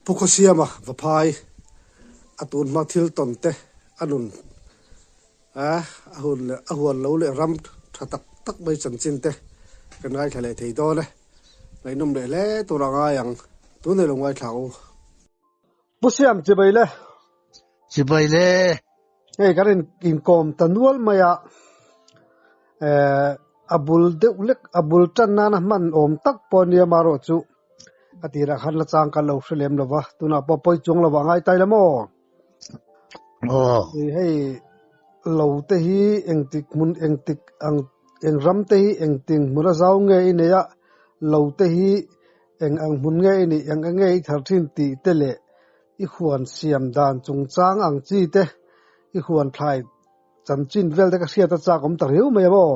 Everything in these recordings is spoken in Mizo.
Pu Khawsiama va phai a tun hma thil tawn te a nun a hun leh a huan lo leh ram tha tak tak mai chanchin te kan ngaithla leh thei dawn e. Ngaihnawm leh hle tur a ngai ang. Tun nei lo ngaithla u. Pu Siam, Chibai le. Chibai le. Hei ka rawn inkawm ta nual mai a, eh a bul deuh lek a bul tan nan a hman awm tak pawh a nia amaherawh chu a tirah khan la chang ka lo hre lem lo va, tunah pawh pawi chuang lovah a ngai ta ila maw? Aw. Ih hei lo te hi engtik hmun engtik ang eng ram te hi engtin hmuna zau nge i nei a, lo te hi eng ang hmun nge i nih eng enge i thar thin tih te leh, I huan siam dan chungchang ang chi te, i huan thlai chanchin vel te ka hriat a chak awm ta riau mai amaw?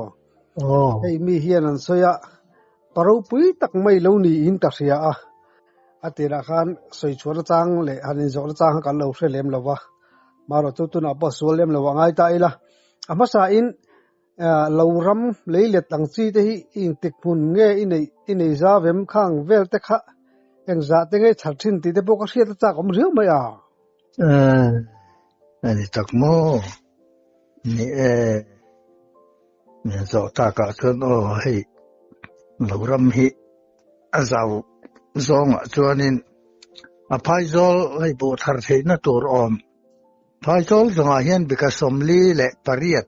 Hei mi hian an sawi a, pa ropui tak mai lo niin ka hria a, a tirah khan sawi chhuan atang leh han inzawh nachang kha kan lo hre lem lo va, marawh chu tunah pawh sual lem lo a ngai ta ila, a hmasain, Aah lo ram lei let ang chi te hi i intik hmun nge i neih i nei za vem khang vel te kha eng zah te ngei chhar thin tih te pawh ka hriat a chak awm riau mai a. Aah a ni tak maw ni e, min zawh tak ah chuan aw hei lo ram hi a zau zawng ah chuan in a phai zawl hei buh thar theih na tur awm phai zawl zawng ah hian bika sawmli leh pariat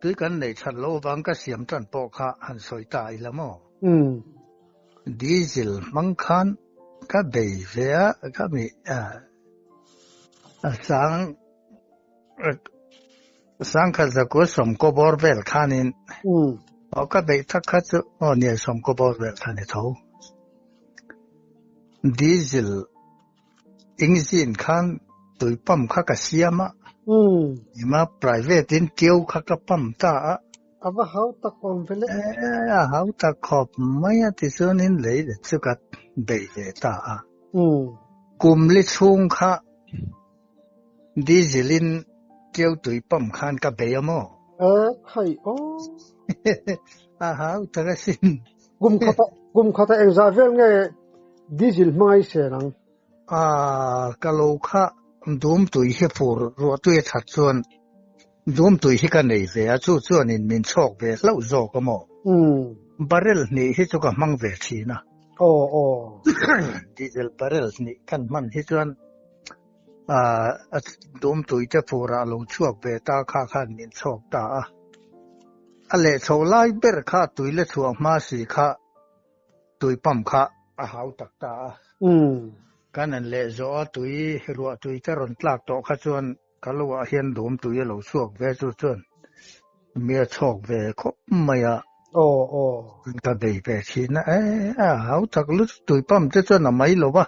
Tui kan neih chhan loh avang ka siam tan pawh kha han sawi ta i la maw? Umm. Diesel hmang khan ka bei ve a, ka mi sang sangkhat zakua sawmkawbawr vel khanin aw ka beih tak kha chu aw nia sawmkawbawr vel khan i tho. Diesel Engzin khan tui pump kha ka siam a. Hmm. Ima private in keu kha ka pump ta a. Ava hau tak om vele. Eh, a hau tak khop mai a tichuan in lei le chu ka bei ve ta a. Hmm. Kum li chhung kha Diesel in tiu tui pam khan ka bei a maw? A khai o. A hau tara sin. Kum khata, kum khata eng za vel nge diesel hmangai se nang. A ka lo kha dum tui hi fur ruah tui a that chuan Dumtui hi ka nei ve a, chu chuanin min chhawk ve hlauh zawk a maw? Barrel hnih hi chu ka hmang ve thin a. Aw aw. Diesel barrel hnih kan hman hi chuan a dumtui te furah lo chhuak ve ta kha khan min chhawk ta a. A leh chho lai ber kha tui la chhuah hma si kha tui pump kha a hau tak ta a. Kan an leh zawh a, tui ruah tui te rawn tlak tawh kha chuan. Ka lu ah hian dum tui a lo chhuak ve chu chuan mi a chhawk ve khawp mai a. Aw aw. Kan ka bei ve thin a e a hau tak lut tui pam te chuan a mai lo va.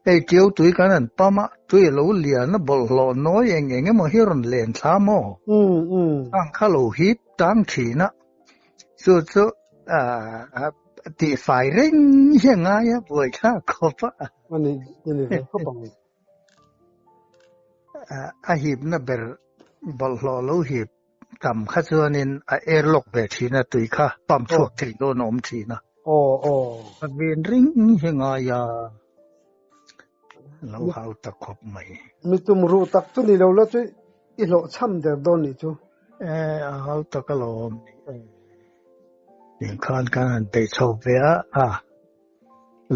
Hei tio tui kan han pam a tui a lo lian a bawlh hlawh nawi eng eng emaw hi a rawn len thla maw? Umm umm. Ang kha lo hip tang thin a chu chu a tih fai reng hi a ngai a buai thlak khawp a. A nih a nih ve khawp ang. A hipna ber bawlhhlawh lo hip tam kha chuanin a air lock ve thin a, tui kha pump chhuak theih dawn a awm thin a. Aw aw. A ven ring hi ngai a, lo hau ta khawp mai. Mi tum ruh tak chu ni lo la chuan i hlawh chham der dawn nih chu. E, a hau tak a lo awm nih e. Eng khan kan han peih chho ve a a.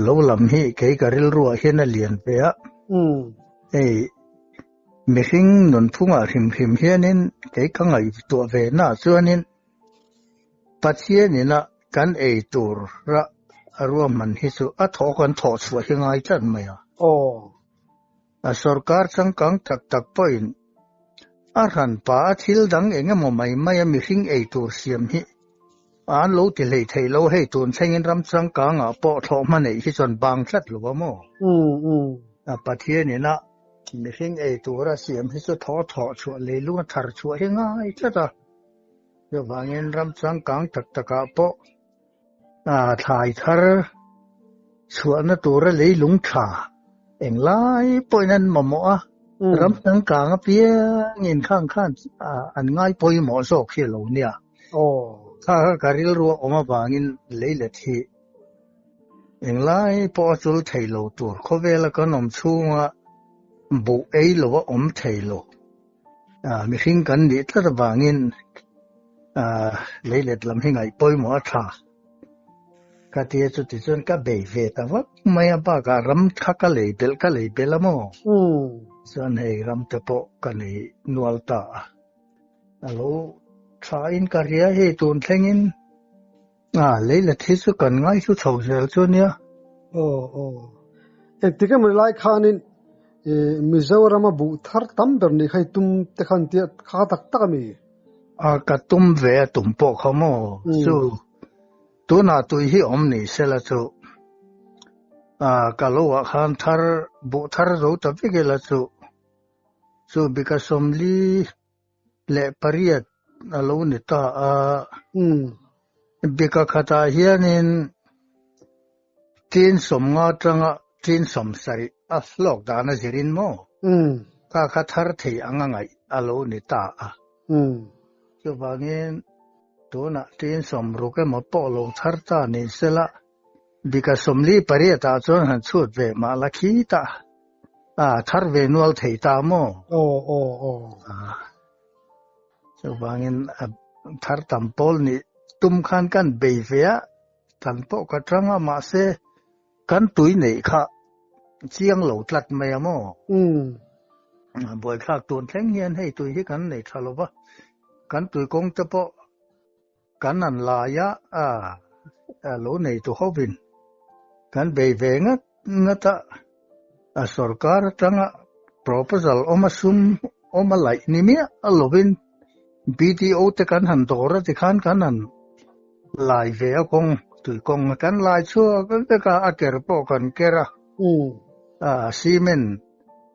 Lo lam hi kei ka rilruah hian a lian ve a. Mm. Ei, mihring nun phungah hrim hrim hianin kei ka ngaih tuah ve na chuanin Pathianina kan ei tur ra a ruahman hi chu a thaw kan thawh chhuah hi ngai tlat mai a. Aw. A sorkar changkang tak tak pawhin a hran pa a thil dang eng emaw mai mai a mihring ei tur siam hi an lo ti hleih theih lo hei tun thlengin ram changkang ah pawh thlawh hma neih hi chuan bang tlat lo a maw? A Pathian in a mihring ei tur a siam hi chu thaw thaw chhuah leilung a thar chhuah hi ngai tlat a, chuvangin ram changkang tak tak ah pawh, a thlai thar chhuahna tura leilung tha eng lai pawhin an mamaw a hmm. ram tang kang a piang in khan khan an ngai pawih maw zawk hi lo nia oh. kha ka ril ruak awma bangin leilet hi eng lai pawh a chul thei lo tur khawvela kan awm chhunga buh ei lo a awm thei lo Mihring kan nih tlat avangin leilet lam hi ngaih pawimawh a tha. Ka ti a, chuti chuan ka bei ve ta vak mai a, bakah ram kha ka lei belh ka lei belh a maw? Chuan hei ram te pawh ka nei nual ta a, a lo thain ka hria hei tun thlengin. A Leila thi chu kan ngaihlu chho zel chu nia. Aw aw. Engtik em rilai khanin eh Mizorama buh thar tam ber ni kha i tum te khan ti a kha kha tak tak a ni. A ka tum ve a tum pawh kha maw chu tunah tui hi awm ni se la chu a ka lo ah khan thar buh thar zo ta vek ila chu chu bika sawmli. leh pariat a lo ni ta a. Bika khatah hianin tin sawmnga tanga tin sawm sarih a hlawk dan a zirin maw? Ka kha thar thei a ngangaih a lo ni ta a. Chuvangin tunah tin sawm ruk emaw pawh lo thar ta nih sela. Bika sawmli pariat ah chuan han chhut ve mah la khi ta a thar ve nual thei ta maw? Aw aw aw. Chuvangin thar tam pawl nih tum khan kan bei ve a, tan pawh ka tang a mahse kan tui neih kha chiang lo tlat mai a maw? Buaithlak tun thleng hian hei tui hi kan nei tha lo va, kan tui kawngte pawh kan an laia a lo nei tu hovin kan bei ve ngat ngat a, a sawrkar atanga proposal awma sum awma laih ni miah lovin BDO te kan han dawr a ti khan kan han lai ve a kawng, tui kawng a kan lai chhuak vek a, a ker pawh kan ker a, hmm. a cement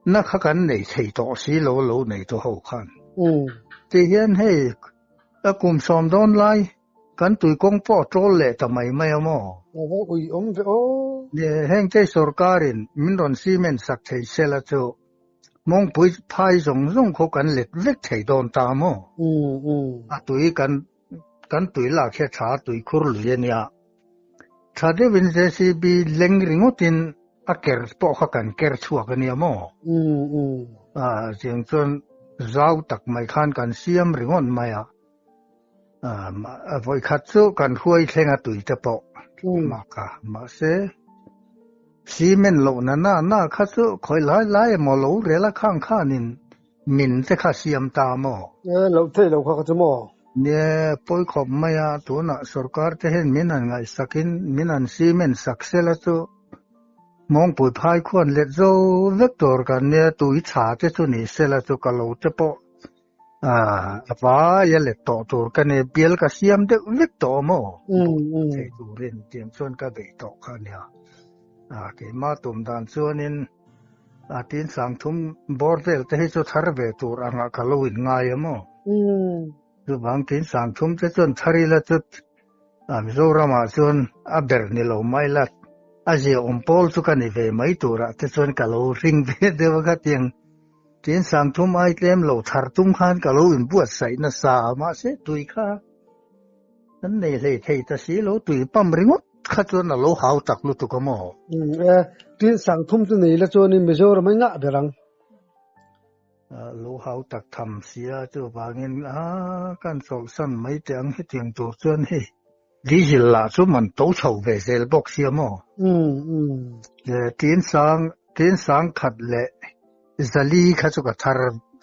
na kha kan nei thei tawh si lo lo nei tu ho khan. Hmm. Ti hian hei Ka kum sawm dawn lai. Kan tui kawng pawh ṭawl leh ta mai mai a maw? Ka va ui awm ve aw. Heng kei sorkarin min rawn cement sak thei sela chu mawngpui phai zawng zawng khaw kan let vek thei dawn ta a maw? A tui kan tui lak hi a ṭha tui khur lui a nia. Tha deuhin JCB leng ringawtin a ker pawh kha kan ker chhuak a nia maw? Mm, mm. A chiang chuan zau tak mai khan kan siam ringawt mai a. A vawi khat chu kan huai thleng a tui te pawh. Mm. Maka, mahse cement lo na na na kha chu khawilai lai emaw lo rel a khang khanin Min te kha siam ta maw? E, lo thei lo kha ka chu maw? Nge pawi khawp mai a, tunah sorkar te hian min an ngaihsakin min an cement sak sela chu mawngpui phai khuan let zo vek tur kan nia, tui chha te chu ni sela chu ka lo te pawh a vai a let tawh tur ka nia, bial ka siam deuh vek tawh maw? Thei turin tiang chuan ka beih tawh kha nia. A, keimah tum dan chuanin. A tin tlangthum bawr vel te hi chu thar ve tur ang ah ka lo in ngai a maw? Umm. Chu vang tin tlangthum te chuan thar ila chu a Mizoram ah chuan a ber ni lo mai la. A zia awm pawl chu ka ni ve mai tur ah te chuan ka lo hring ve deuh a ka ti ang. Tin tlangthum ai tlem lo thar tum khan ka lo in buatsaih nasa a mahse tui kha. Kan nei hlei thei ta si lo, tui pump ringawt kha chuan a lo hau tak lutuk a maw? Um, e, tin sang thum te nei la chuan in Mizoram a ngah ber ang. A lo hau tak tham si a, chu vangin a kan chawlh san mai teh ang hetiang tur chuan hei, diesel lah chu man to chho ve zel bawk si a maw? Um, um. E, tin sang, tin sang khat leh zali kha chu ka thar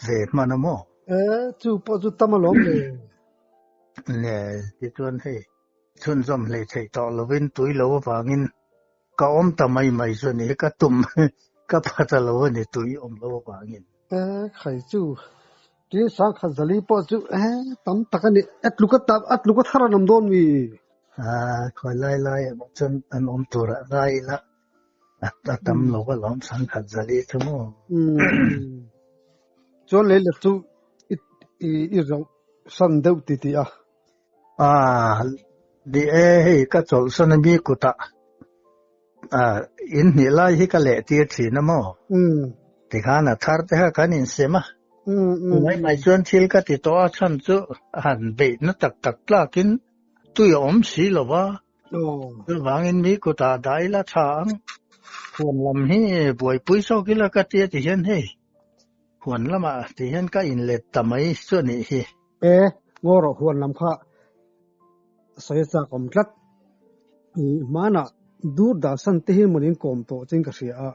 ve hman a maw? E, chu pawh chu tam alawm le. Neh, tichuan hei chhunzawm hlei theih tawh lovin tui lo avangin ka awm ta mai mai chu a ni. Ka tum ka pha ta lo a ni tui awm lo avangin. Eh, hei chu tui sang khat zali pawh chu eh tam tak a ni. A tluk a ta, a tluk a thar a nawm dawn mi. Khawi lai lai emaw chuan an awm turah ngai ila. a tam lo ka lawm san khat zali chu mu chuan lei lek chu i i ro san deuh ti ti a a di e hei ka chol san mi kuta a in ni lai hi ka le tir thin amo um ti khana thar te ha kan in sema um um mai mai chuan thil ka ti to a chan chu han be na tak tak tlakin tui om si lova Chuvangin mi kuta dah ila tha ang. Huan lam hi buaipui zawk ila ka tia ti hian hei. Huan lama ti hian ka inlet ta mai chu a nih hi. E, ngaw rawh huan lam kha sawi a chak awm tlat. I hmanah Durdasan te hi manin kawm tawh chin ka hria a.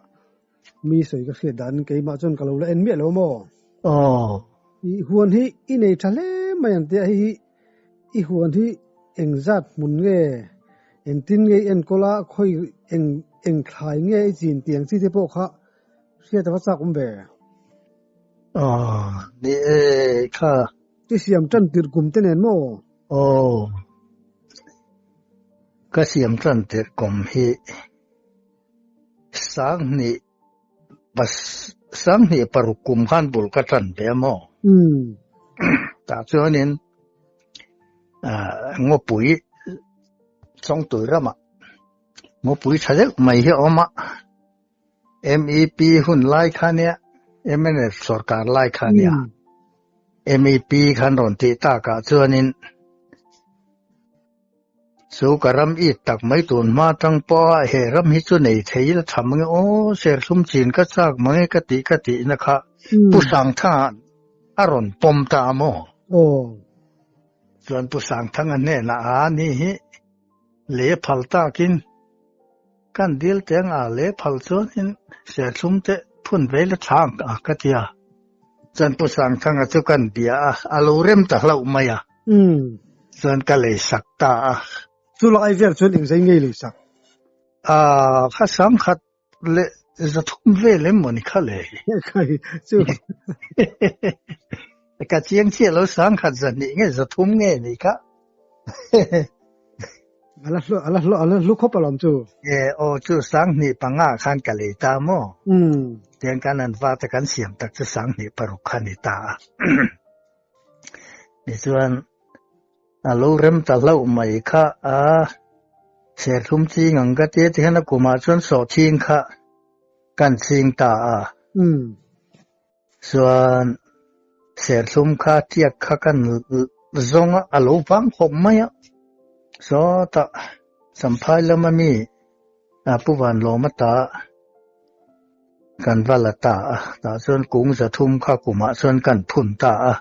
mi sawi ka hriat dan keimah chuan ka lo la en miah lo maw aw i huan hi i nei tha hle mai ang tia hi i huan hi eng zat hmun nge eng tin nge i en kawla khawi eng eng thlai nge i chin ti ang chi te pawh kha hriat va chak awm ve aw ni e kha ti siam tan tir kum te nen maw aw ka siam tan tir kum hi Sanghnih pas sanghnih paruk kum khan bul ka tan ve a maw? Tah chuanin Ngawpui Chawngtui ramah Ngawpui tha deuh mai hi a awm a, MEP hun lai kha nia, MNF sawrkar lai kha nia, MEP khan rawn tih takah chuanin, Chu ka ram it tak mai tun hma tang pawh a he ram hi chu nei thei ila tha mange aw serthlum chin ka chak mange ka tih ka tih na kha Pu Sangthanga a rawn pawm ta a maw aw chuan Pu Sangthanga hnenah a ni hi leh phal takin. Kan dil teng ah leh phal chuan in serthlum te phun vei la thla ang a ka ti a. Chuan Pu Sangthanga chu kan bia a, a lo rem ta hlauh mai a. Umm. Chuan ka lei sak ta a. Chu lai vel chuan eng zai ngei lei sak? Aah, kha sangkhat leh zathum vel em maw ni kha lei. Ka hi chu. Ka chiang chiah lo sang khat za ni nge za thum nge ni ka. Ala hlu ala hlu ala hlu khop alom chu. E o chu sang ni panga khan ka lei ta mo. Um. Tiang kan an va ta kan siam tak chu sang ni paruk khan ni ta. Ni chuan alo rem ta lo mai kha a ser thum chi ngang ka te tihan a kuma chuan so thing kha kan ching ta a. Um. Chuan serthlum kha tiak kha kan zawng a, a lo vang khawp mai a. Sawtah Samphai lama mi a Pu Vanlawma ta kan va la ta a, tah chuan kung zathum kha kumah chuan kan phun ta a.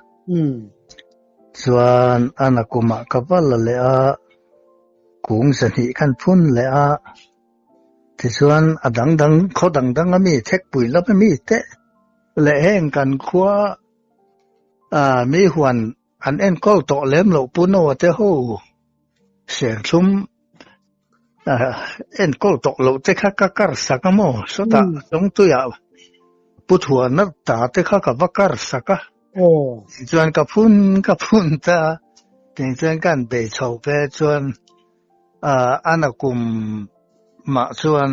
Chuan ana kumah ka va la leh a, kung zahnih kan phun leh a. Tichuan a dang dang, khaw dang dang a mi, thekpui lama mi te leh heng kan khua a mi huan an enkawl tawh lem loh pu no a te ho, siamthlum a enkawl tawh loh te kha ka kar sak a maw, sawtah Chawngtuia pu thuana ta te kha ka va kar sak a, tichuan ka phun ka phun ta, tichuan ka han bei chho pe chuan An a kum mah chuan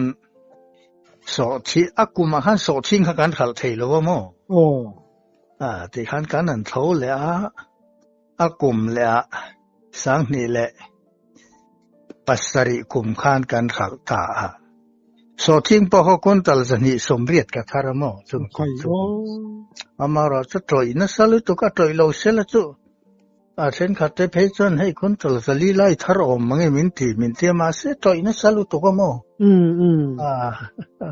sawhchhin, a kum ah khan sawhchhin kha kan hralh thei lo a maw? Aw. A tih khan kan an thlo leh a, a kum leh a sanghnih leh pasarih kum khan kan hralh ta a. Sawhchhin pawh haw kuntal zahnih sawmriat ka thar a maw? Chumi kum chu. Amarawh chu tawih nasa lutuk a tawih lo sela chu. A thenkhat te phei chuan hei Kuntal Zalilai thar awm mang em in tih min tia mahse tawih nasa lutuk a maw? Mm, mm. A, a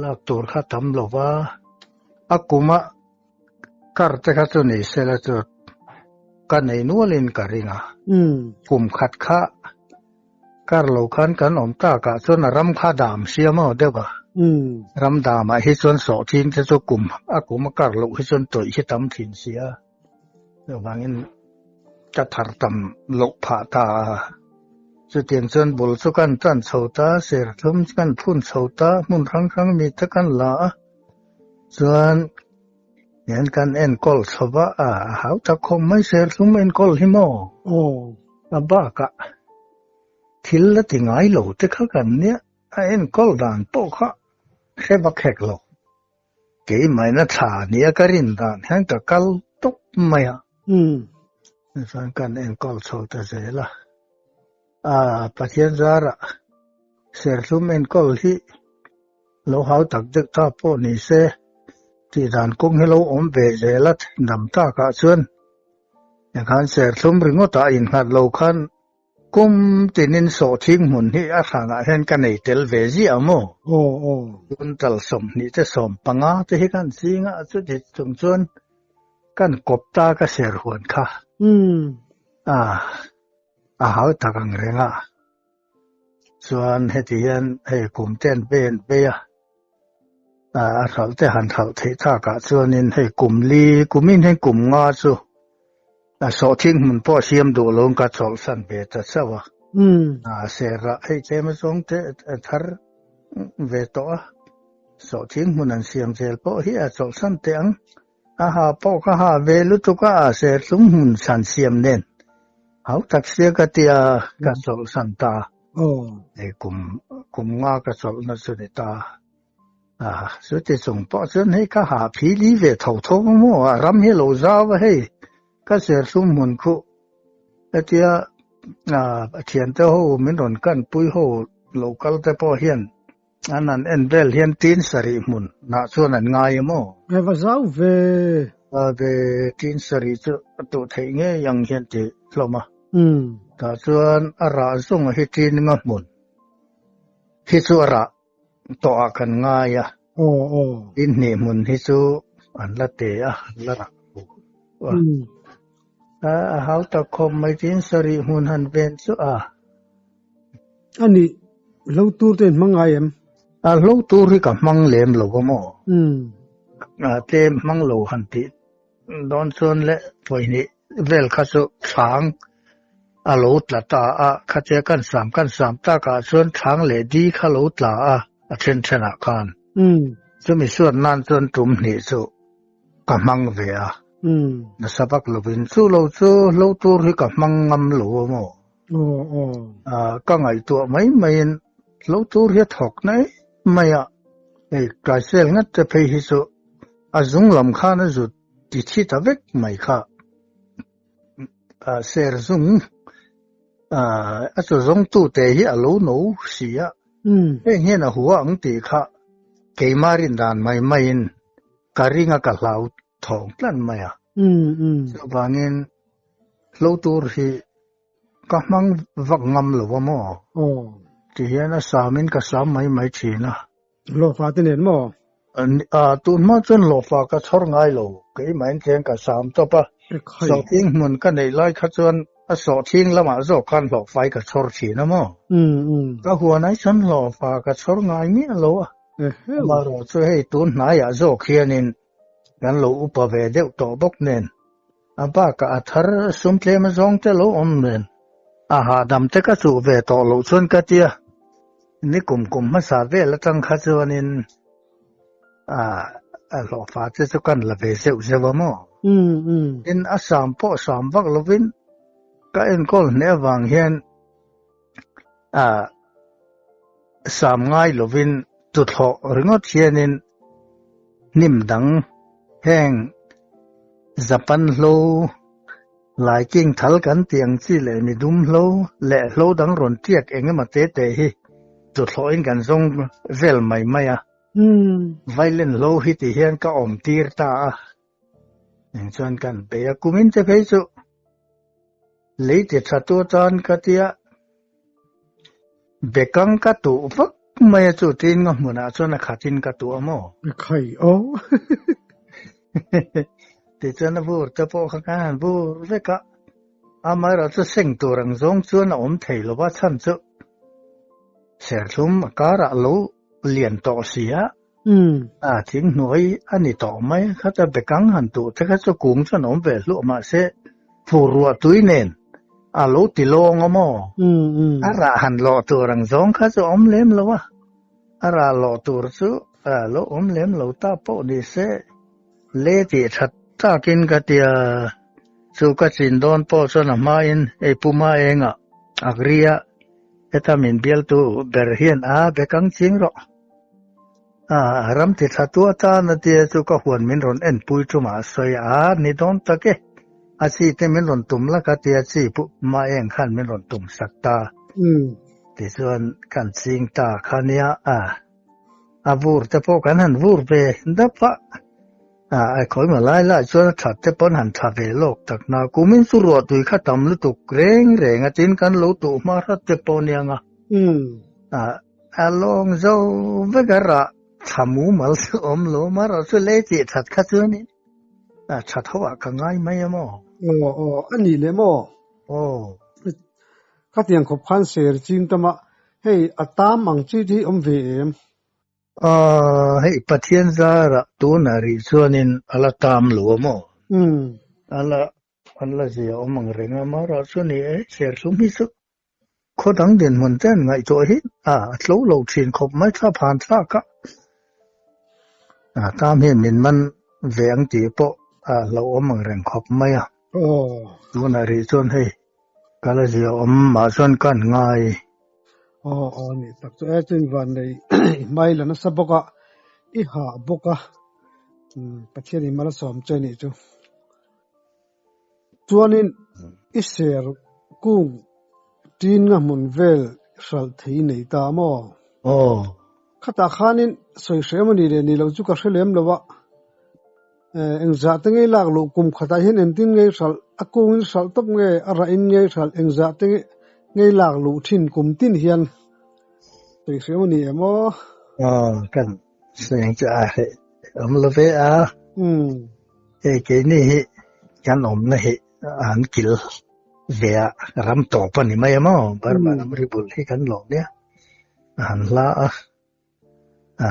lak tur kha tam lova, a kuma kar te kha chu nei se la chu ka nei nual in ka ring a. Mm. Kum khat kha kar lo khan kan awm tak ah chuan a ram kha dam si a maw deuh a? Mm. Ram dam ah hi chuan sawh thin te chu kum a kuma kar loh hi chuan tawih hi tam thin si a. Vangin ka thar tam loh phah ta a. Chutiang chuan bul chu kan tan chho ta, serthlum kan phun chho ta, hmun hrang hrang mi te kan la a. Chuan hian kan enkawl chho va a, hau tak khawm mai serthlum enkawl hi maw? Oh, a bakah thil la ti ngai lo te kha kan nia, a enkawl dan pawh kha hre va khek lo. Keimahna thla nia ka rin dan hian ka kal tawp mai a. Chuan kan enkawl chho ta zel a. Aa, Pathian zara serthlum enkawl hi lo hau tak deuh ta pawh ni se, tih dan kawng hi lo awm ve zel a, thil dam takah chuan enghan serthlum ringawtah innghat lo khan Kum tinin sawhthing hmun hi a hranah hian ka nei tel ve ziah maw? Aw aw. Tun tal sawmhnih te sawm panga te hi kan zing a, chuti chung chuan kan kawp ta ka ser huan kha. Umm. Ah, a hau tak ang reng a. Chuan heti hian hei kum ten pen peia. A hralh te han hralh theih tak ah chuan in hei kum li kum in heng kum nga chu a sawh thing hmun pawh a siam duh lo ang kha chawlh san ve ta chauh a a serh ah hei tlem azawng te a thar ve tawh a sawh thing hmun an siam zel pawh hi a chawlh san teh ang. Ka ha pawh ka ha ve lutuk a, serthlum hun san siam nen hau tak sia ka ti a, ka chawlh san ta. Hei kum, kum nga ka chawlh na chu ni ta. Ah, chuti chung pawh chuan hei ka ha phi li ve tho tho a maw, a ram hi a lo zau a hei, ka serthlum hun khuh ka ti a. Ah, a thiante ho min rawn kanpui ho lokal te pawh hian. An han en vel hian tin sarih hmun hnah chuan an ngai em aw? Nge va zau ve? Zau ve, tin sarih chu a tuh theih ngei ang hian ti hlawm a. Umm. Tah chuan a rah zawng a hi tin nga hmun hi chu a rah tawh ah kan ngai a. Aw aw. Tin hnih hmun hi chu an la te a, an la rah pu a. Umm. A hau tak khawp mai, tin sarih hmun han ven chu a, A nih hlo tur te in hmang ngai em? A hlo tur hi ka hmang lem lo a maw? Umm. A tlem hmang lo han tih dawn chuan le pawihnih vel kha chu thlâng a lo tla ta a, khatia kan sam kan sam tak ah chuan thlâng leh di kha lo tla a, a then then ah khan. Umm. Chu misuat nan chuan tum hnih chu ka hmang ve a. Umm. Nasa bak lovin chu lo chu hlo tur hi ka hmang ngam lo a maw? Ka ngaihtuah mai maiin lo tur hi a thawk nai mai a, hei Klaisel ngat te phei hi chu a zung lam khan a zut ti thi ta vek mai kha. Ser zung a chaw zawng tu te hi a lo no si a, heng hian a hua ang tih kha keimah rin dan mai maiin ka ring a ka hlau thawng tlan mai a. Chuvangin Hlo tur hi ka hmang vak ngam lo va maw? Oh. Ti hian a samin ka sam mai mai thin a. Lawfa te nen maw? A, tun hma chuan lawfa ka chhawr ngai lo. Keimah in tleng ka sam tawp a. Sawhtling hmun ka neih lai kha chuan a sawhtling lamah zawk khan lawfai ka chhawr thin a maw? Ka huan ai chuan lawfa ka chhawr ngai miah lo a. Amaherawhchu hei tun hnaiah zawk hianin kan lo upa ve deuh tawh bawk nen A bakah a thar sum tlema zawng te lo awm nen, a hahdam te ka chuh ve tawh loh chuan ka tia, ni kum kum hmasa vel atang kha chuanin a hlawhfa te chu kan la ve zeuh zeuh a maw? Tin a sam pawh sam vak lovin ka enkawl hneh avang hian a sam ngai lovin tu thlawh ringawt hianin hnim dang heng zapan hlo lai king thal kan tih ang chi leh mi dum hlo leh hlo dang rawn tiak eng emaw te te hi tu thlawh in kan zawng vel mai mai a violent hlo hi ti hian ka awm tir ta a Eng chuan kan pe a kumin te phei chu leiti tha tu tan ka tia bekang ka tu vak mai chu tin nga hmun a chuan a khatin ka tu amo khai o ti chuan a bur te pawh kha ka han bur veka amai ra chu seng tur ang zong chuan a om thei lo va chan chu serthlum a kara lo lian tawh sia Umm. A thing hnuai a ni tawh mai a, khata bekang han tuh te kha chu kung chuan a awm ve hluah mah se, phur ruah tui nen a lo ti lawng a maw? Umm. A rah han lawh tur ang zawng kha chu a awm lem lo a, a rah lawh tur chu a lo awm lem lo ta pawh ni se, le tih that takin ka ti a, chu ka chin dawn pawh chuan a hmain, Ei Puma engah Agri-a heta min bialtu ber hian a bekang ching rawh. A ram ti thla tu atan a tia chu ka huan min rawn en pui chu mah sawi a, ni dawn tak e. A chi te min rawn tum lak a tia chi pu mah eng khan min rawn tum sak ta. Umm. Tichuan kan ching ta kha nia a. A vur te pawh kan han vur ve dap a. A a khawi mah lai lai chuan a that te pawn han tha ve lawk tak na kum in chu ruah tui kha tam lutuk reng reng a tin kan lo tuh hma hrat te pawh nia nga. Umm. A. A lawng zo vek a rah tha mumal chu awm lo mara chu lei tih that kha chuan in a tha tho a ka ngai mai em aw. Aw aw a nih lem aw. Aw. Khatiang khawp khan ser chim tam a hei a tam ang chi te hi awm ve em. Aw hei Pathian zara tuna rih chuan in a la tam lo awm aw. Umm. A la An la zia awm ang reng a, Mara chu ni e, serthlum hi chu khaw dang dinhmun ten ngaihtuah hi a tlo lo thin khawp mai thlap han thlak a, tam hi min man ve ang tih pawh a lo awm ang reng khawp mai a. Aw. Tunah rih chuan hei ka la zia awm mah chuan kan ngai. Aw aw ni tak chu e, chuan Vanlei i hmai la nasa bawk a, i hah bawk a, Pathian i mal a sawm che nih chu. Chuanin i ser kung tinga hmun vel hralh thei nei ta maw? Aw. Khata khanin sawi hreh emaw ni le ni lo chu ka hre lem lo a. Eh, engzah te ngei lak loh kum khatah hian engtin ngei hralh, a kungin hralh tawp nge, a rahin ngei hralh engzah te nge ngei lak loh thin kum tin hian sawi hreh emaw ni em aw? Aw, kan. Seng chu a he awm lo ve a. Hmm. Hei keini hi kan awmna hi an kil ve a ram tawp a ni mai emaw hmm. Burma ram ri bul hi kan lo nia. Han hla a à,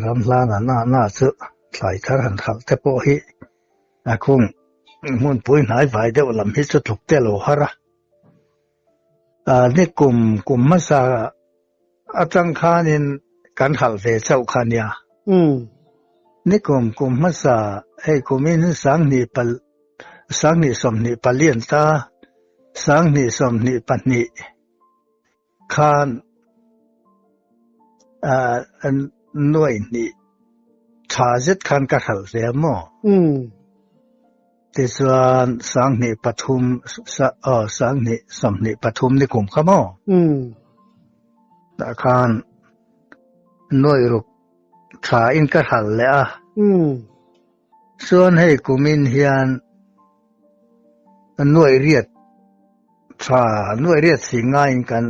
ram hla na na na chu thlai thar han khal te pawh hi a kung hmun pui hnai vai deuh lam hi chu tluk te lo har a. Ni kum kum hmasa atang khanin kan halh ve chauh kha nia. Ni kum kum hmasa hei kumin sanghnih pal sanghnih sawmhnih palian ta sanghnih sawmhnih pahnih khan nuaihnih tha zet khan ka hralh ve maw? Tichuan sanghnih pathum aw sanghnih sawmhnih pathum ni kum kha maw? Um. Tah khan nuairuk tha in ka hral leh a. Um. Chuan hei kumin hian nuairiat Tha nuai riat si ngaiin kan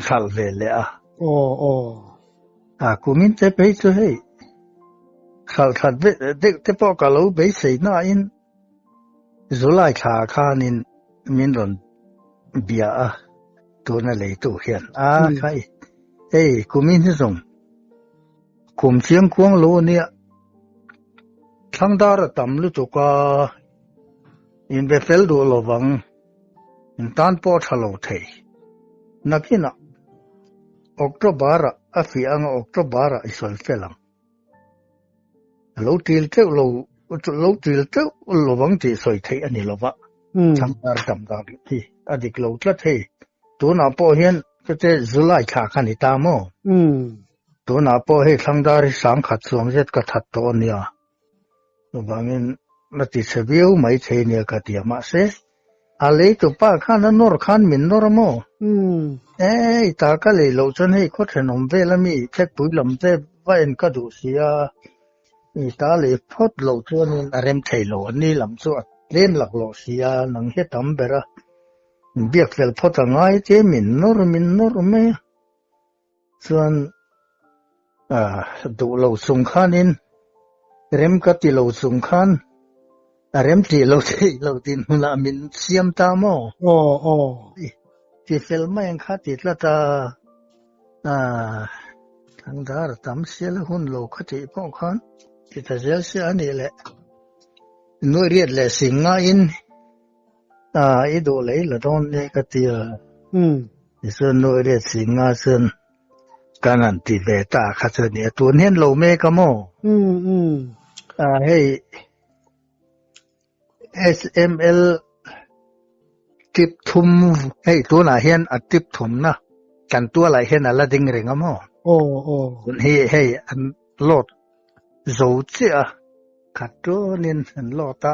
hralh ve leh a. Aw, aw. A kumin te phei chu hei, hralh that deuh te pawh ka lo beisei nain July thla khanin min rawn bia a, tuna leitu hian. A, khai, hei kumin hi zawng. Kum chiang kuang lo a nia. Thlang dar a tam lutuk a, in be fel duh lo vang, in tan pawh a tha lo thei. Nakinah, October ah a fiah anga October ah i sawi fel ang. A lo ṭil ṭeuh lo, lo ṭil ṭeuh lo vang tih sawi theih a ni lo va, thlang dar a tam dan hi a dik lo tlat hei. Tunah pawh hian heti July thlak a ni ta maw? Tunah pawh hei Thlangdar hi sangkhat suam zet ka that tawh a nia. Chuvangin na ti chhe viau mai thei nia ka ti a mahse, a leitu pa khan a nawr khan min nawr a maw? E, i ta ka lei loh chuan hei khawthen awm vel a mi Thletpui lam te vain ka duh si a, i ta lei phawt loh chuanin a rem thei lo a ni lam chu a tlem lak loh si a, nang hi a tam ber a, biak fel phawt a ngai che min nawr min nawr mai a. Chuan duh lo chung khanin rem ka ti lo chung khan a rem tih lo theih lo din hunah min siam ta maw? Aw aw. Ti fel mai ang kha ti tlat a. Thangdar tam sial a hun lo ka tih pawh khan ti ta zel sia a nih leh. Nuaih riat leh sing ngaiin. a i do lei la don ne ka tia um isun no re si nga sun kan an ti ve ta kha chu ni tu nen lo me ka mo um um a hei sml tip thum hei tunah hian a tip thum na kan tua lai hian ala ding ring a mo o o kun hi hei an lot zo chia khat tu nin an lot a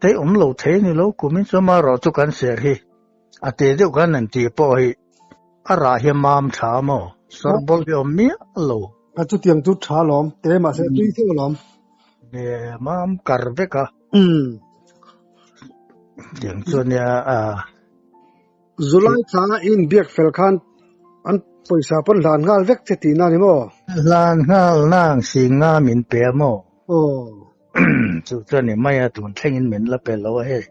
Tei awm lo thei ni lo kumin chuan ma rawh chu kan ser hi a tê deuh khan an tih pawh hi a rah hi a mam tha maw sawrbawlh hi a awm miah lo. A chutiang chu tha alawm tê mahse a tui theuh alawm. Nge mam kar vek a. Umm. Tiang chuan nia a. Zulai thla in biak fel khan an pawisa pawn hlan nghal vek che tihna ni maw? Hlan nghal nang si nga min pe maw? Aw. chu chuan ni mai a tun thlengin min la pe lo a hei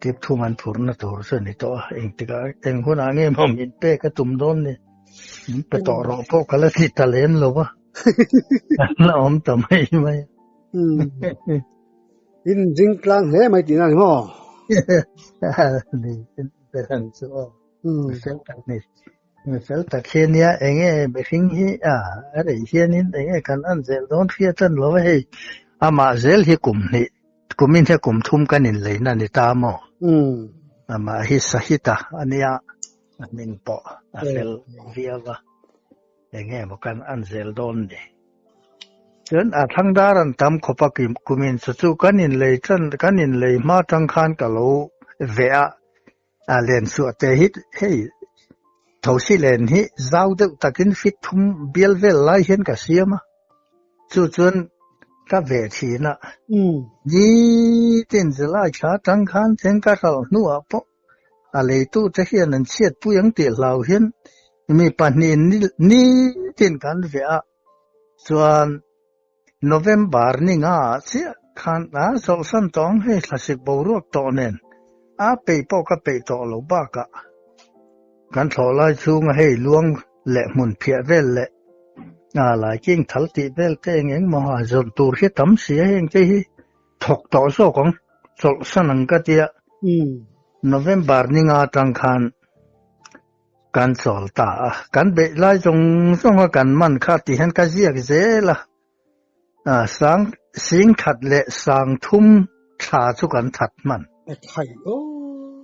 tip thum an phur na tur chu ni to a eng tika eng hun a nge mom min pe ka tum don ni min pe to ro po ka la thi ta len lo wa na om ta mai mai in jing tlang he mai tina ni ho ni in pe han chu o sem tak ni Fel tak hian nia eng nge mihring hi a a rei hianin eng nge kan an zel dawn hria tan lo a hei amah zel hi kum hnih kumin he kum thum kan inleina a ni ta maw amah hi sahita a nia a hming pawh a fel viau a eng nge maw kan an zel dawn ni chuan a thlang dar an tam khawpa kim kumin chu chu kan inlei tan kan inlei hma tang khan ka lo ve a A len suah te hi hei thosi len hi zau deuh takin fit thum bial vel lai hian ka siam a. Chu chuan ka ve thin a. Ni tin zilai thla tang khan theng ka hral hnuah pawh a leitu te hian an chhiatpui ang tih hlau hian mi pahnihin ni tin kan ve a. Chuan. November ni nga chiah khan a zawhsan tawh ang hei thlasik boruak tawh nen a peih pawh ka peih tawh lo bakah kan thlawhlai chhunga hei luang leh hmun phiah vel leh a lai king thal tih vel te eng eng maw a zawrh tur hi tam si a heng te hi thawk tawh zawk ang chawlhsan ang ka tia November ni nga tang khan Kan chawl ta a, kan beih lai zawng zawnga kan man kha tih hian ka ziak zel a, sang sing that leh sang thum thla chu kan that hman. A thaih o.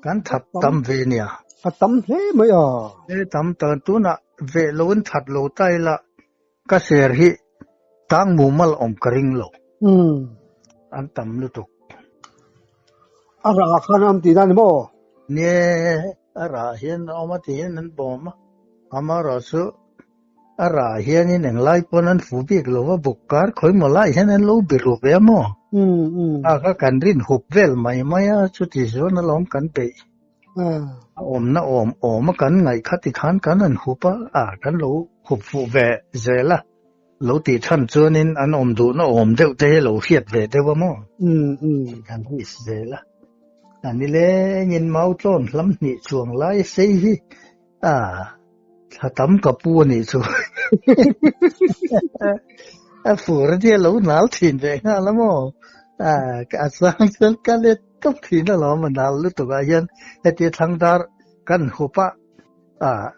Kan that tam ve nia. A tam hle mai a. E tam ta tunah veh lo in that lo ta ila Ka ser hi tang mumal awm ka ring lo. Hmm. An tam lutuk. A ra khan an ti dan mo. Nge a ra hian awm a tiin an bawm a. Amarawh chu a ra hian in englai pawn an fu bik lo a buk kar khawih maw lai hian an lo be rup em aw. Hmm. Hmm. A ka kan rin hup vel mai mai a chuti zawn alawm kan beih. a awmna awm awm a kan ngaih kha ti khan kan rawn hup a a kan lo hup fuh ve zel a lo tih than chuanin an awm duhna awm deuh te hi lo hriat ve deuh a maw kan hris zel a a ni lengin mau tlawn hlam hnih chuang lai sei hi Ah, thla tam ka pu a nih chu. A fur a nia lo nal thin ve nghal a maw? Ah, ka a sang chuan ka let tawp thin a lawm a nal lutukah hian heti thlang dar kan hup a. Ah,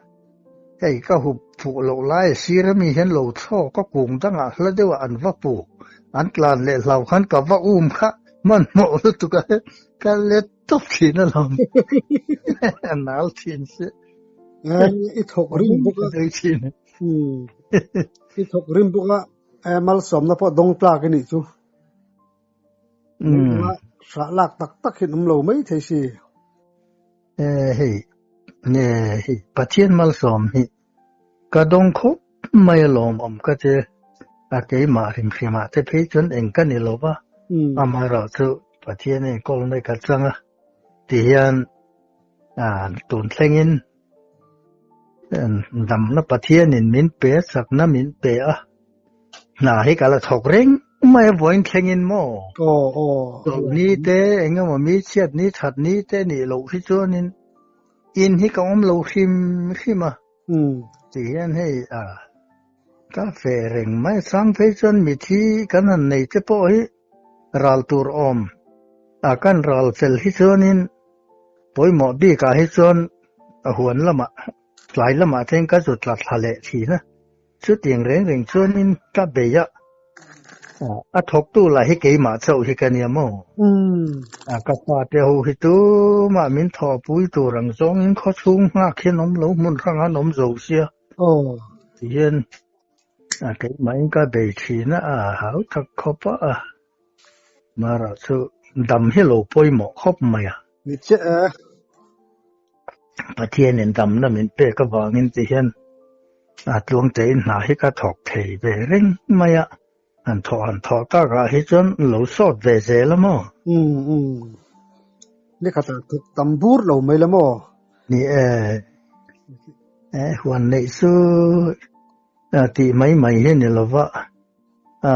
hei ka hup fuh loh lai a sir ami hian lo thlawk ka kung dangah hla deuhah an va pu. An tlan leh hlau khan ka va um kha hmanhmawh lutukah hian ka let Tuk thin a lam. Nal thin si. I thok rim buk a. Dei thin. I thok rim buk a. Mal som na po dong tlak ni chu. Sa lak tak tak hin um lo mai thei si. Hei. Hei. Pathian mal som hi. Ka dawng khawp mai a lawm awm ka ti a keimah hrim hrim ah te phei chuan eng ka ni lo va ama erawh chu Pathian in call mek a chang a ti hian tun thleng in damna Pathian in min pe sakna min pe a hna hi ka la chhawk reng mai a vawiin thleng in maw oh oh ni te engemaw mi chhiat ni that ni te nih loh hi chuan in In hi ka awm lo hrim hrim a. Hmm. Ti hian hei a. Ka fe reng mai. Chhang phei chuan mithi kan han nei te pawh hi ral tur awm. A kan ral fel hi chuanin pawimawh bikah hi chuan a huan lamah, tlai lamah theng ka zut tlat hla leh thin a. Chutiang reng reng chuan in tla bei a, a thawktu lah hi keimah chauh hi ka nia maw? Ka fate ho hi tumah min thaw a pui tur ang zawngin khawchhung nghak hian awm lo hmun hrang an awm zo sia. Tihian keimahin ka bei thin a, a hau tak khawp a. Mara chu dam hi lo pawimawh khawp mai a. Ni che e. Pathianin damna min pek avangin ti hian a tluangtein hna hi ka thawk thei ve reng mai a. Han thawh han thawh takah hi chuan lo sawt ve zel a maw? Umm umm. Ni kha ta thawk tam bur lo mai la maw? Ni e. E huan neih chu tih mai mai hi ni lo va. A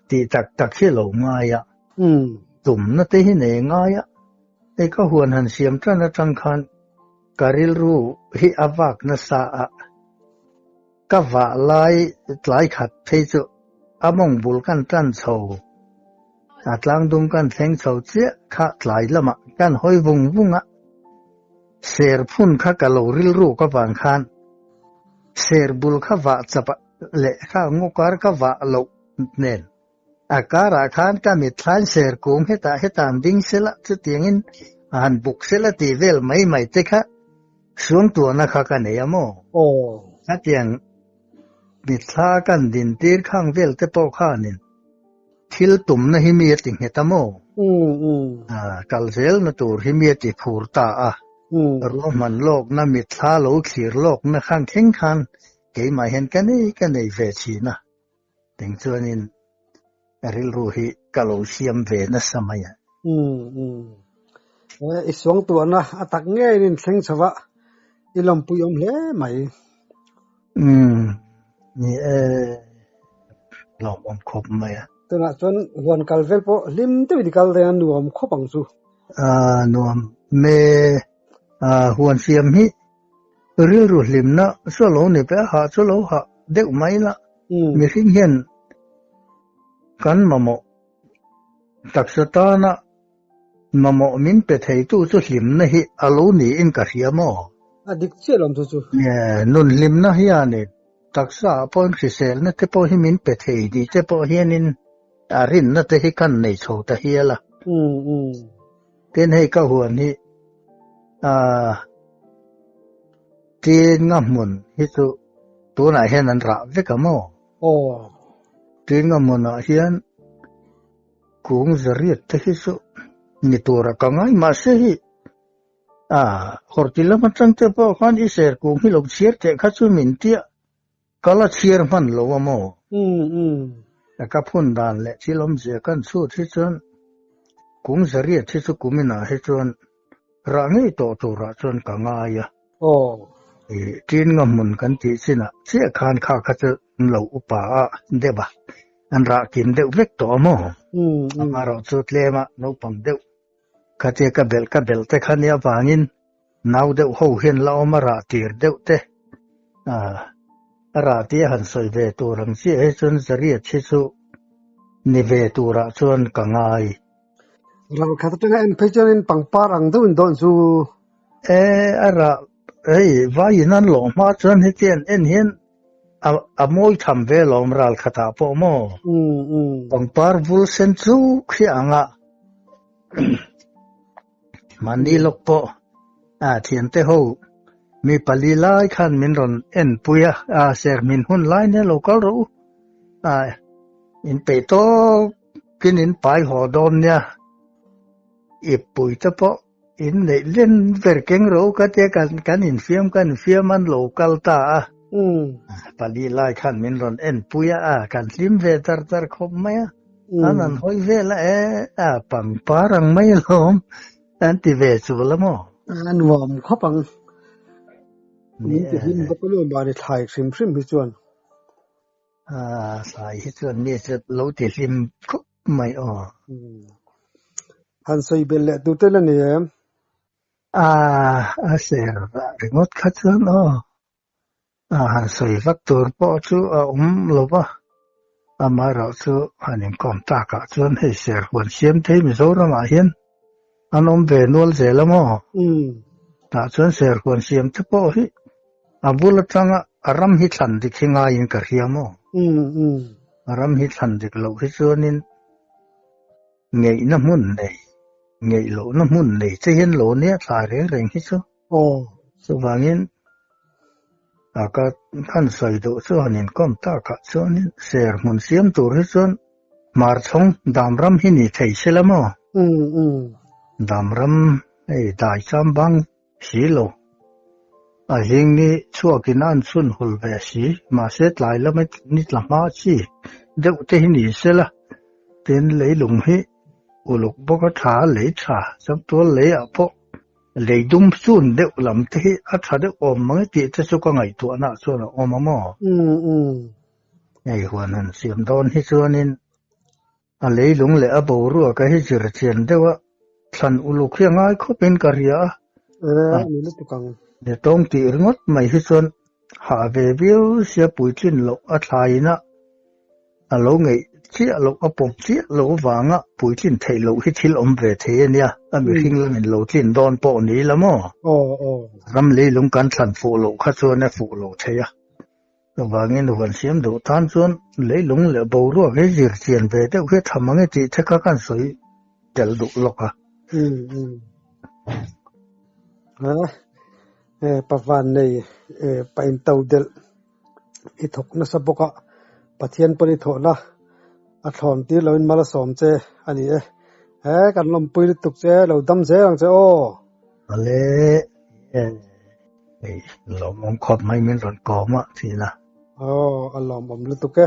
ti tak tak hi lo ngai a. Umm. Tumna te hi nei ngai a. Hei ka huan han siam tan atang khan ka rilru hi a vak nasa a. Ka vah lai tlai khat phei chu a mawng bul kan tan chho. A tlang dum kan thleng chho chiah kha tlai lamah kan hawi vung vung a. Serphun kha ka lo rilru ka vang khan serbul kha vah chap a. leh kha ngu kar ka vah loh nen a karah khan ka mitthlain ser kung heta heta an ding se la chutiangin han buk se la tih vel mai mai te kha suangtuahna kha ka nei a maw aw chutiang mitthla kan din tir khang vel te pawh khanin thil tumna hi mi ati nghet a maw a kal zel na tur hi mi ati phur ta a ruahman lawkna mitthla lo thlir lawkna khang thleng khan keimah hian ka nei ka nei ve thin a, keng chuanin ka rilru hi ka lo siam ve nasa mai a. Umm umm, i suang tuahna a tak ngei in thleng chho vah, i lawm puiawm hle mai. Umm, ni e, lawm awm khawp mai a. Tunah chuan huan kal vel pawh hlim deuhin i kal daih a, nuam khawp ang chu. Ahh, nuam hme, ahh huan fiam hi Rilru hlimna saw lo ni pe a hah chu lo hah deuh mai la mihring hian kan mamawh taksa tana mamawh min pe thei tu chu hlimna hi a lo niin ka hria maw? A dik chiah lo chu chu. Nun hlimna hianin taksa ah pawn hriselna te pawh hi min pe thei ni te pawh hianin a rinna te hi kan nei chho ta hial a. Tin hei ka huan hi a tin nga mun hi chu tunah hian an rah vek ang maw? Oh. Tin nga munah hian kung zariat te hi chu ni tur a ka ngai ma se hi a horti lam atang te pawh khan i ser kung hi lo chhiar teh kha chu min tia Ka la chhiar hman lo a maw? Ka phun dan leh thil awmzia kan chhut hi chuan kum zariat hi chu kuminah hi chuan rah ngei tawh turah chuan ka ngai a. I ṭin nga hmun kan tih chinah chiah khan kha kha chu an lo upa a, Deb a, an rah kim deuh vek tawh a maw? Amaherawhchu tlema naupang deuh. Khatia ka belh ka belh te khan i avangin nau deuh ho hian la awm a rah tir deuh te a rah tih a han sawi ve tur ang chiah hi chuan Zariat hi chu ni ve turah chuan ka ngai. Ralkhat atanga en phei chuan in pangpar ang deuhin dawn chu. E a rah. Hei vai in an lawh hma chuan hetian en hian a mawi tham ve lo awm ral khatah pawh maw? Pangpar vul sen chuk hi anga mahni lawk pawh thiante ho mi pali lai khan min rawn en pui a, ser min hun lai nel lo kal rawh u. In peih tawkin in pai haw dawn nia, ip pui te pawh In neih len ber keng ro ka tia kan kan in fiam kan in fiam an lo kal ta a pali lai khan min rawn en pui a a kan hlim ve tar tar khawp mai a an an hawi vel a e a pangpar ang mai hlawm an ti ve chu la maw a nuam khawp ang min ti hlim bawk lo mani thlai hrim hrim hi chuan a thlai hi chuan mi chu lo ti hlim khawp mai aw han sawi bel leh tu te la ni em a a ser ringawt kha chuan aw a han sawi vak tur pawh chu a um lova amarawh chu han inkawm takah chuan hei ser huan siam thei mizoramah hian An awm ve nual zel a maw? Umm. Tah chuan serhuan siam te pawh hi a bul atanga a ram hi thlan dik hi ngaiin ka hria maw? Umm umm. A ram hi thlan dik loh hi chuanin ngeihna hmun nei, ngeih lohna hmun nei che hian law nia thlai reng reng hi chu. Aw, chuvangin aka han sawi duh chuanin kawm takah chuanin ser hmun siam tur hi chuan Hmarchhawng dam ram hi ni thei se la maw? Umm umm. Dam ram hei dai cham bang si lo. A hling ni chhuakin a an chhun hul ve si, mahse tlai lama ni tla hma chi deuh te hi ni se la, tin leilung hi uluk bawk a, tha lei tha, chaktual leiah pawh, Lei dum chun deuh lam te hi a tha deuh awm mai tih te chu ka ngaihtuahnah chuan a awm a maw? Umm umm. Hei huan han siam dawn hi chuanin a leilung leh a boruaka hi zirchian deuha thlan uluk hi a ngai khawpin ka hria a. Aa, a ni lutuk ang. Ni tawng tih ringawt mai hi chuan. Hah ve viau sia Puitling loh a thlaiinah a lo ngeih chiah loh a pawm chiah loh avanga Puitling theih loh hi thil awm ve thei a nia, a mi hringlam in lo tlin dawn pawh ni ila maw? Ram leilung kan thlan fuh loh kha chuan a fuh lo thei a, chuvangin huan siam duh tan chuan leilung leh boruak hi zir chian ve deuh hi tham ang i tih the kha kan sawi tel duh lawk a. E pa Vannei, e pa Intodelh, i thawk nasa bawka Pathian pawn i thawhna a thlawn tir loin mal a sawm che a ni e. He kan lawmpui lutuk che lo dam zel ang che aw. Vale, e hei lawmawm khawp mai min rawn kawm a tihna. Aw a lawmawm lutuk e.